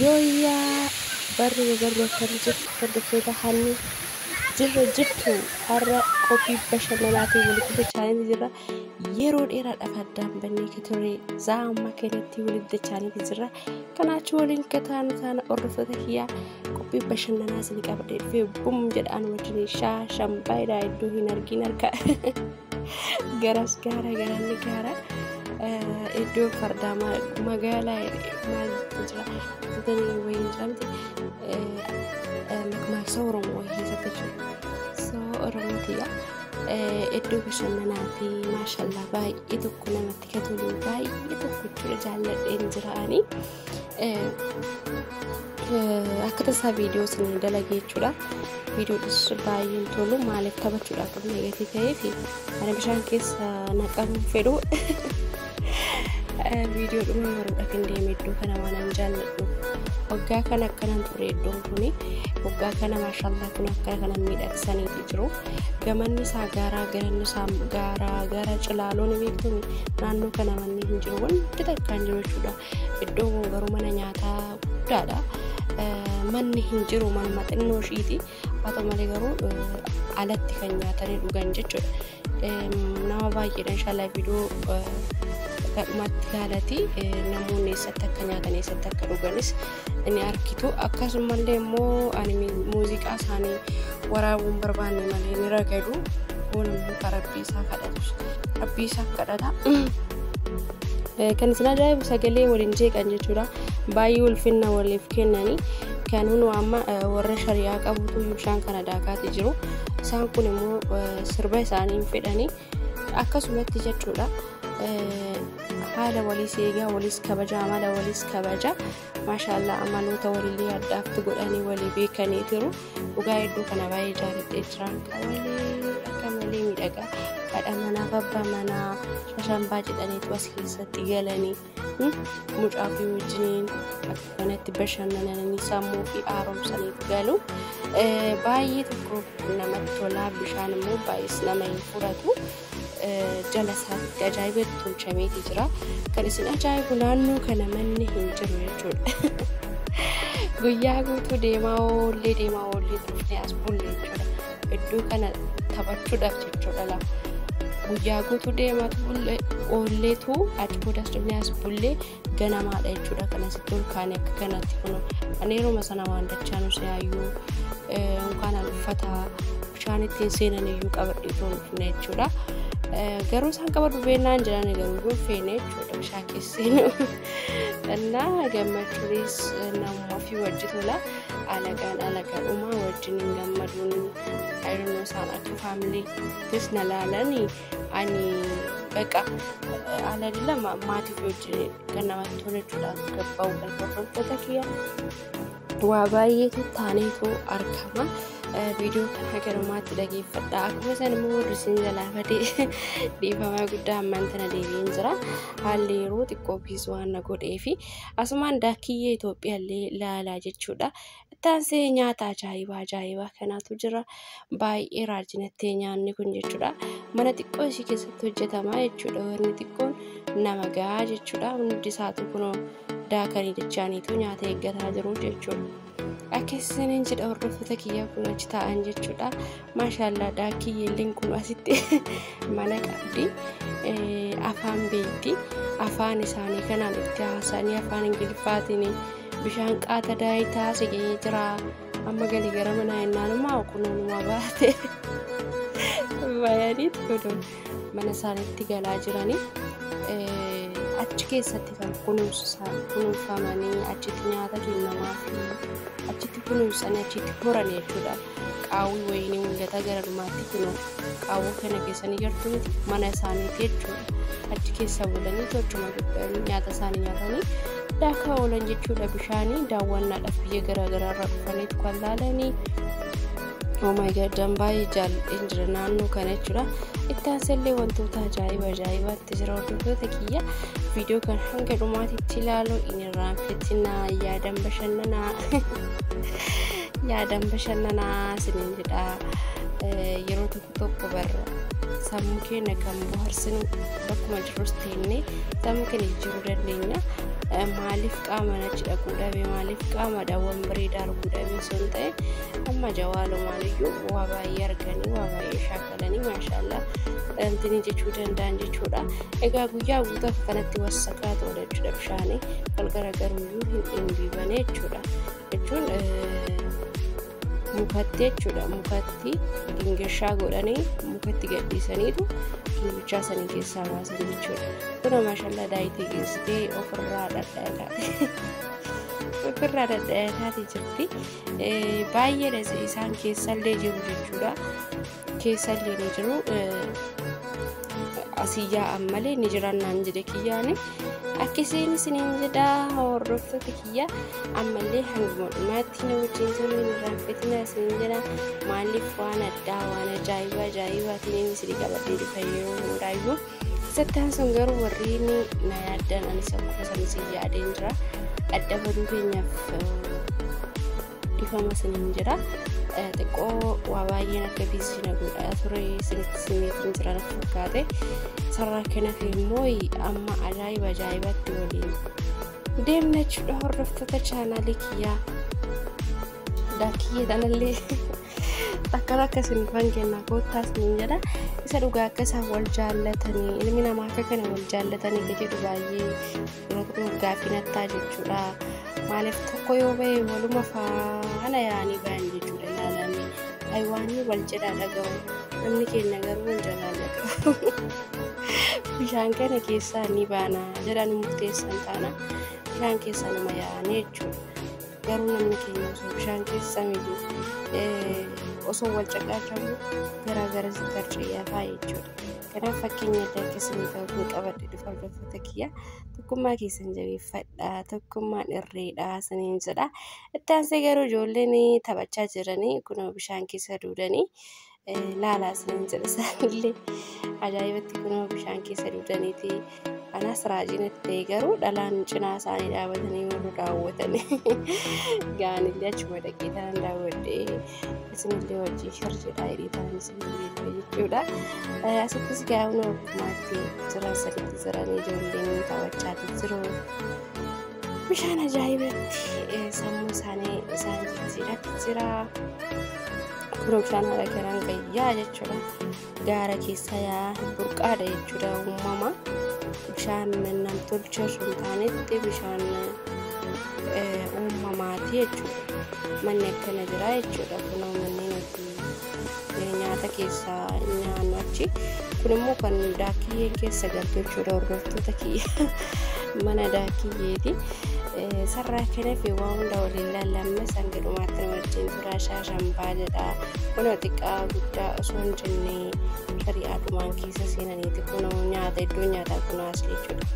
Yooyyaa barri ba barri akkam jirtu hordoftoota hanni jirra jirtu har'a qophii bashannanaatiin wal quba chaananii jirra yeroo dheeraadhaaf addaan bannee ka ture zaamma kanatti waliif dachaanii jirra kanaachi waliin kataanu taana hordoftoota kiyyaa qophii bashannanaa isin qabadhee dhufee bum jedhaan wajjin shaa shan baay'eedha iddoo hin argin harka garas gaara garalli gaara iddoo fardaa magaalaa maal jira jedhanii wayii jedhamti makmaaksa oromoo wayii keessatti jiru so oromoo tiyya iddoo bashannanaati maashallaa baay'ee tokko namatti katoluu baay'ee tokko jaalladheen jiraanii akka tasaa viidiyoo isin dalagee jechuudha. Viidiyoodhis baay'ee hin tolu maaliif taphachuudhaaf kan eegatee ta'ee fi mana bishaan keessa naqan fedhu. Viidiyoo dhuma maruudha kan deeme iddoo kana waan hin jaalladhu. Waggaa kana akkanan ture iddoon kuni waggaa kana maashaallah kun akkana kana miidhagsaniiti jiru. Gamanni isaa gaaraa garanni isaa gaaraa gara cilaaloon beektuun naannoo kana manni hin jiru wanti takkaan jiru jechuudha. Iddoo kun garuu mana nyaataa guddaadha. Manni hin jiru manuma xinnoo ishiiti. Haa ta'u malee garuu alatti kan nyaatanii dhugan jechuudha. Nama baay'eedha inshallah viidiyoo gadhumatti haalati namoonni eessatti akka nyaatan eessatti akka dhuganis ni argitu akkasumallee immoo ani muuziqaa isaanii waraabuun barbaanne malee ni ragadu kun immoo kan rabbii isaa kadhatu rabbii isaa kadhata kan isin ajaa'ibu sagalee waliin jeeqan jechuudha baay'ee ulfinna waliif kennanii kan hunu amma warra shari'aa qabutu bishaan kana daakaati jiru isaan kun immoo sirba isaanii fedhanii akkasumatti jechuudha haala waliis eegaa waliis kabaja amala waliis kabaja maashaallah amaloota walillee adda addaatti godhanii walii beekanii jiru dhugaa hedduu kana baay'ee jaalladhee jiraan qabalee akka malee miidhagaa haadha manaaf abbaa manaa shashanbaa jedhaniitu as keessatti galanii mucaa fi wajjiniin kanatti bashannananii sammuu fi haaromsaniif galu baay'ee tokko namatti tolaa bishaan immoo baay'ees nama hin fudhatu jala isaatti ajaa'iba tolchameeti jira kan isin ajaa'ibu naannoo kana manni hin jiru jechuudha. guyyaa guutuu deemaa oollee deemaa oollee turte as bulle jechuudha. Iddoo kana taphachuudhaaf jechuudha laa. Guyyaa guutuu deemaatu bullee oolleetu achi boodas dhufnee as bullee ganamaadha jechuudha kan asitti ol kaane akka kanatti kun ani yeruma sana waan dachaa nu seeyyuu yookaan an uffata bishaan ittiin seenan iyyuu qabadhee toon dhufne jechuudha. Garuu isaan qabadhu beennaan jedhan garuu hin feene jechuudha bishaan keesseen. Innaa gammachuunis namummaa fi wajji tola. alagaan alaga dhumaa wajjin hin gammaduun ayirnoo isaan akka faamiliittis na laalani ani baqa alali lama maatii wajjin kan namatti tola jechuudha gabba'u galfafantoota kiyya waa baay'eetu taaneetu argama. viidiyoo kan haga dhumaatti dhageeffadha akkuma isaan immoo warri isin galaafate dhiifamaa guddaa ammaan tana deebiin jira haalli yeroo xiqqoo biis waan na godhee fi Asumaan daakiyyee Itoophiyaallee laalaa jechuudha. Taansee nyaata ajaa'ibaa ajaa'ibaa kanaatu jira. Baay'ee raajinattee nyaanni kun jechuudha. Mana xiqqoo ishii keessatti hojjetama jechuudha. Wanni xiqqoon nama gahaa jechuudha. Hundi isaatu kunoo daakanii dachaaniitu nyaata eeggataa jiru jechuudha. Akka isiniin jedha hordoftoota kiyyaa kun achi taa'an jechuudha. Maashaallah daakii yeelleen kun asitti mana qabdi. Afaan beekti. Afaan isaanii kanaan itti haasa'anii afaan Ingiliffaatiin bishaan qaata daayitaa siqee jira. Amma galii gara manaa ennaan immoo kunuunuma baate. Bayanii tuduun. mana isaaniitti galaa jiranii achi keessatti kan kunuunfamanii achitti nyaata kennamaa achitti kunuunsanii achitti horan jechuudha. Qaawwi wayinii mul'ata gara dhumaatti kunoo qaawwa kana keessanii jirtu miti mana isaaniiti jechuudha. Achi keessa bulanii tolchuma nyaata isaanii nyaatanii daakaa oolan jechuudha bishaanii daawwannaadhaaf biyya garaagaraa irraa dhufaniitu kan laalanii Oomaayidaan baay'ee jaalladheen jira naannoo kana jechuudha. Itti aansallee wantoota ajaa'iba ajaa'ibaatti jira hordoftoota kiyya. Viidiyoo kan hanga dhumaatitti ilaaluu hin irraanfatinaa yaadan bashannanaa. Yaadan bashannanaa isiniin jedha. Yeroo tokko tokko barra sammuu keenya kan bohaarsinu bakkuma jirrus teennee sammuu keenya jijjiiruu dandeenya. Maaliif qaama nachi dhaquu dhabe maaliif qaama daawwan bareedaa arguu dhabe osoo hin ta'e Amma jawaalumaan iyyuu waa baay'ee arganii waa baay'ee shaakalanii maashaallah wantinii jechuu danda'an jechuudha. Egaa guyyaa guutaaf kanatti wasakaa ta'udha jechuudha bishaanii wal garagaruu iyyuu hin dhimbiibane jechuudha. Jechuun mukatti jechuudha mukatti gingishaa godhanii mukatti gadhiisaniitu gingichaa sanii keessaa baasan jechuudha. Kuna maashaallah daayitee geessitee ofirraa dhadhaadha. Ofirraa dhadhaadhaati jirti. baay'eedha isaan keessallee jiru jechuudha keessallee ni jiru asiyyaa ammalee ni jiran naan jedhe kiyyaani akkasiin isiniin jedha hordoftoota kiyya ammallee hanguma dhumaatti na wajjin turuu hin raaffatina isiniin jedha maaliif waan addaa waan ajaa'ibaa ajaa'ibaa isiniin isin qabadhee dhufa yeroo hundaayyuu Isatti aansuun garuu warri na yaaddan anis akkuma san isin yaadeen jira. Adda baduu keenyaaf dhifama isiniin jira. Xiqqoo waa baay'een akka biizii na godhaa ture isinitti simeetiin jira natti fakkaate. Sarara kanaaf immoo amma ajaa'iba ajaa'ibatti waliin deemna jechuudha hordoftoota chaanaalii kiyyaa. Daakiyyee tanallee. Akka akka isin dhufan kennaa koottaas niin jedha. Isa dhugaa akka isaan wal jaallatanii ilmi namaa akka kana wal jaallatanii ka jedhu baay'ee yeroo tokko gaaffii nattaa jechuudha. Maaliif tokko yoo ba'e waluma faana yaa'anii ba'an jechuudha ilaalamee. Aywaanii wal jedhaa dhaga'u. Namni keenya garuu wal jalaallatu. Bishaan kana keessaa ni baana jedhan murteessan taana. Bishaan keessa nama yaa'anii jechuudha. garuu namni keenya osoo bishaan keessa miidhu osoo wal caqaachaa jiru garaa gara tarciyaa fa'aa jechuudha. Kanaaf fakkeenya adda akkasii ta'u kun qabadhe dhufa hordoftoota kiyya tokkummaa keessan jabeeffadha tokkummaan irreedha saniin jedha. Itti aansee garuu ijoolleen taphachaa jiranii kunoo bishaan keessa duudanii laalaa isiniin jedha isaanillee ajaa'ibatti kunoo bishaan keessa dugdaniiti anaas raajiin itti ta'e garuu dhalaan cinaa isaanii dhaabatanii warra daawwatanii gaanillee achuma dhaqee ta'an daawwadhee isinillee wajjin shirjedhaa hidhee ta'an isinillee jechuudha asittis gaa'uun ogummaatti jiran sadiitti jiran ijoolleen taphachaatii jiru bishaan ajaa'ibatti sammuu isaanii isaan jijjiiratti jira. Birookishaan haala garaan gayyaa jechuudha. Gaara keessa yaa burqaadha jechuudha uumama. Bishaan nam tolche osoo hin taanetti bishaan uumamaati jechuudha. Manni akkana jira jechuudha. Kunoo manni nuti nyaata keessaa nyaannu achi. Kun immoo kan daakiyyeen keessa galtu jechuudha hordoftoota kiyya. Mana daakiyyeeti. Sarraa kanafi waan hunda waliin laallamne sanga dhumaatti nu wajjin Maqaa isaa Zambaa jedha. Kunoo xiqqaa guddaa osoo hin jenne shari'aa dhumaan keessa seenaniiti kunoo nyaata iddoo nyaataa kunoo as jechuudha.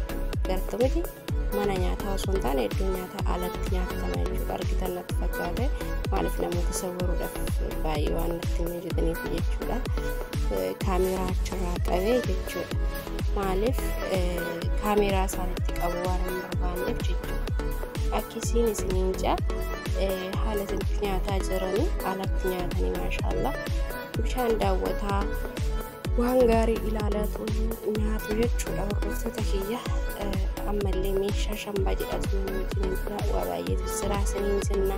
Gartuu miti mana nyaataa osoo hin taane iddoo nyaataa alatti nyaatama jechuudha. Argitan natti fakkaate maaliif namoota sawwaruudhaaf baay'ee waan natti hin hojjetaniif jechuudha. Kaameeraa achirraa qabee jechuudha. Maaliif kaameeraa isaanitti qabu waan hin barbaanneef jechuudha. Akkasiin isiniin ja'a. haala itti nyaataa jiranii alatti nyaatanii maashaallah bishaan daawwataa waan gaarii ilaalatu nyaatu jechuudha hordoftoota kiyya ammallee meeshaa shambaa jedhatu wajjin jira waa baay'eetu jira isiniin jenna.